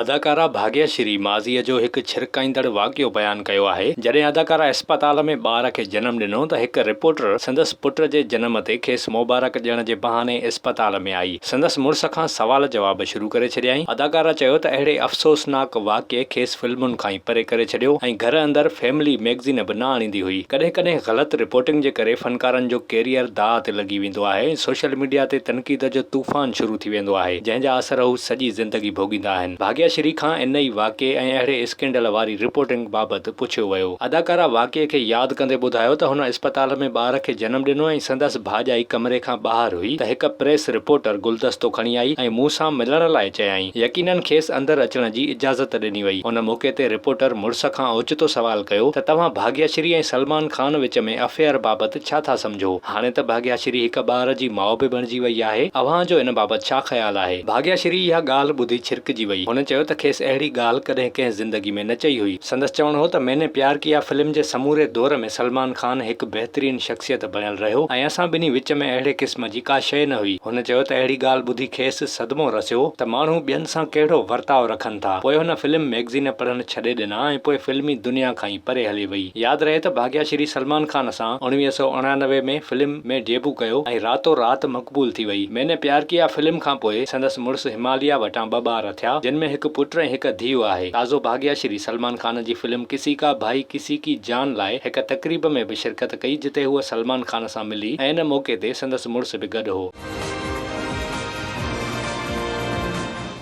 اداڪارا ڀاڳيا شري ماضيء جو هڪ ڇرڪائيندڙ واقعو بيان ڪيو آهي، جڏهن اداڪارا اسپتال ۾ ٻار کي جنم ڏنو ته هڪ رپورٽر سندس پٽ جي جنم تي کيس موبارڪ ڏيڻ جي بهاني اسپتال ۾ آئي سندس مڙس کان سوال جواب شروع ڪري ڇڏيائين، اداڪارا چيو ته اهڙي افسوسناڪ واقعي کيس فلمن کان ئي پري ڪري ڇڏيو ۽ گهر اندر فيملي ميگزين به نه آڻيندي هئي، ڪڏهن ڪڏهن غلط رپورٽنگ جي ڪري فنڪارن جو ڪيريئر داء تي لڳي ويندو آهي ۽ سوشل ميڊيا تي تنقيد جو طوفان شروع ٿي ويندو آهي، جنهن جا اثر هو سڄي زندگي ڀوڳيندا آهن. ڀاڳيا شري کان ان ئي واقعي ۽ اهڙي اسڪينڊل واري رپورٽنگ بابت پڇيو ويو. اداڪارا واقعي کي ياد ڪندي ٻڌايو ته هن اسپتال ۾ ٻار کي جنم ڏنو ۽ سندس ڀاڄائي ڪمري کان ٻاهر هئي ته هڪ پريس رپورٽر گلدستو کڻي آئي ۽ مون سان ملڻ لاء چيائين. يقينن کيس اندر اچڻ جي اجازت ڏني وئي. ان موقعي تي رپورٽر مڙس کان اوچتو سوال ڪيو ته توهان ڀاڳيا شري ۽ سلمان خان وچ ۾ افيئر بابت ڇا ٿا سمجهو؟ هاڻي ته ڀاڳياشري هڪ ٻار جي ماء به بڻجي وئي آهي، اوهان جو ان بابت ڇا خيال آهي؟ ڀاڳياشري اها ڳالهه ٻڌي ڇرڪجي وئي. هن چيو ته کيس اهڙي ڳالهه ڪڏهن ڪنهن زندگي ۾ نه چئي هئي. سندس چوڻ هو ته مين ني پيار ڪيا فلم جي سموري دور ۾ سلمان خان هڪ بهترين شخصيت بڻيل رهيو ۽ اسان ٻنهي وچ ۾ اهڙي قسم جي ڪا شيء نه هئي. هن چيو ته اهڙي ڳالهه ٻڌي کيس صدمو رسيو ته ماڻهو ٻين سان ڪهڙو ورتاء رکن ٿا. پوء هن فلم ميگزين پڙهڻ ڇڏي ڏنا ۽ پوء فلمي دنيا کان ئي. پري هلي وئي. ياد رهي ته ڀاڳيا شري سلمان خان سان اڻويهه سؤ اڻانوي ۾ فلم ۾ ڊيبو ڪيو ۽ راتو رات مقبول ٿي وئي. مين ني پيار ڪيا فلم کان پوء سندس مڙس هماليا وٽان ٻه ٻار ٿيا جن ۾ هڪ پٽ ۽ هڪ ڌيء آهي. تازو ڀاڳيا شري سلمان خان جي فلم ڪسي ڪا ڀائي ڪسي ڪي جان لاء هڪ تقريب ۾ به شرڪت ڪئي جتي هوء سلمان خان سان ملي ۽ ان موقعي تي سندس مڙس به گڏ هو.